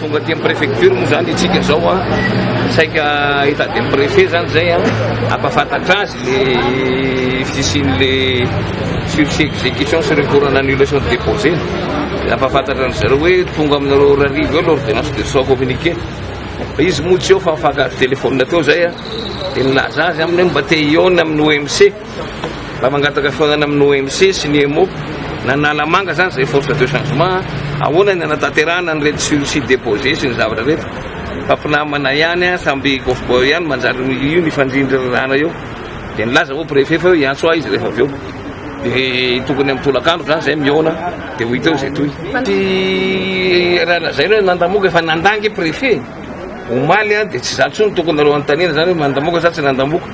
Tonga aty amin'ny préfecture moa zany itsika zao a, saika hitady amin'ny préfet zany zay a, hampafantatra azy le fisian'le sursis exécution sy recours en annulation de déposé. Hampafantatra an'i zareo hoe tonga aminareo ora arivo eo l'ordonnance de soins communiqué. Izy moa tsy eo fa mifankahazo téléphone teo zay a, de nilaza azy aminy hoe mba te hihaona amin'ny OMC. Mba mangataka fihaonana amin'ny OMC sy ny Emmo na ny Analamanga izany izay force de changement a! Ahoana ny hanatanterahana an'ireto sur site deposer sy ny zavatra ireto? Fa mpinamana ihany a! Samby cowboy ihany manjary io mifandrindry ry rana eo! Dia nilaza moa préfet fa hoe hiantso ahy izy rehefa avy eo. Dia tokony amin'ny tolakandro izany izay mihaona dia ho hita eo izay toy. Tsy raha lazainao hoe nandamoaka fa nandà ange préfet omaly a! Dia tsy izany intsony tokony nareo anontaniana izany hoe mandamoaka sa tsy nandamoaka?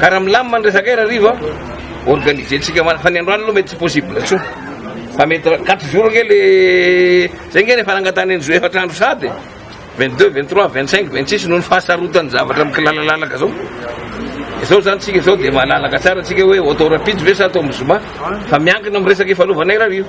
Ka raha milamina ny resaka ira Rivo a, organiser tsika mana fa ny androany aloha mety tsy possible tsony. Fa mety ra- quatre jours nge le zay nge ny efa nangatahana ny zo efatra andro sady 22, 23, 25, 26 noho ny fahasarotan'ny zavatra mikilalalalaka zao. Izao zany tsika izao dia malalaka tsara tsika hoe atao rapide ve sa atao amin'ny zoma fa miankina amin'ny resaka ifanaovana ira Rivo.